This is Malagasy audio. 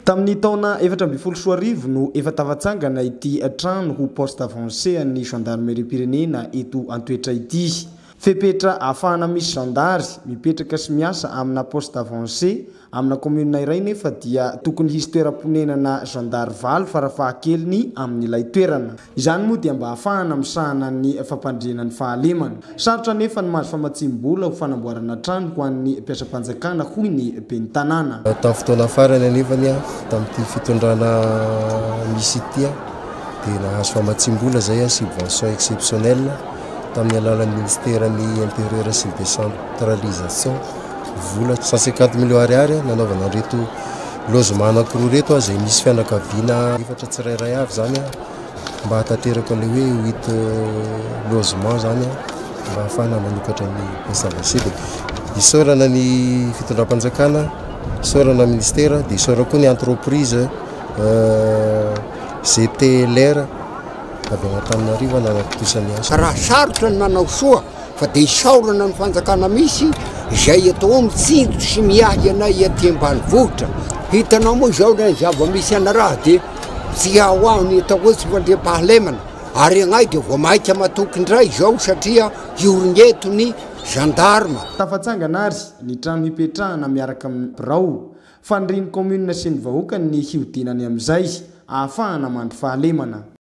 Tamin'ny taona efatra ambin'ny folo sy roa arivo no efa tafatsangana ity trano ho poste avancé an'ny Zandarimeriam-pirenena eto Antoetra ity. Fepetra ahafahana misy zandary mipetraka sy miasa amina poste avancé amina kaominina iray nefa dia tokony hisy toeram-ponenana zandary valo farafahakeliny amin'ilay toerana. Izany moa dia mba hahafahana misahana ny fampandriana ny fahalemana. Sarotra anefa ny mahazo famatsiam-bola ho fanamboarana trano ho an'ny mpiasam-panjakana hoy ny ben'ny tanàna. Tamin'ny fotoana farany anefany, tamin'ity fitondrana misy ity, dia nahazo famatsiam-bola izay, subvention exceptionnelle, tamin'ny alalan'ny minisiteran'ny Intérieur sy ny Décentralisation, vola cent cinquante millions ariary nanaovana an'ireto Lozima anankiroa ireto aho izay misy fianakaviana efatra tsirairay avy izany mba hahatanteraka ilay hoe huit logement izany mba hahafahana manokatra ny SAVC dia isaorana ny fitondram-panjakana, isaorana ny ministera dia isaorana koa ny entreprise GTLR avy any Antananarivo nanatontosany asa. Raha sarotra ny manao soa fa dia isaorana ny fanjakana misy izay eto ao mitsinjo sy miahy anay aty ambanivohitra. Hitanao moa izao ilay zava-misy anaraha dia tsy ao aho ny atao hoe tsy fandriampahalemana ary anay dia vao maika matoky indray izao satria hiorina eto ny zandarma. Tafatsangana ary ny trano hipetrahana miaraka amin'ny birao. Fanirian'ny kaominina sy ny vahoaka ny hihodinany amin'izay ahafahana mandry fahalemana.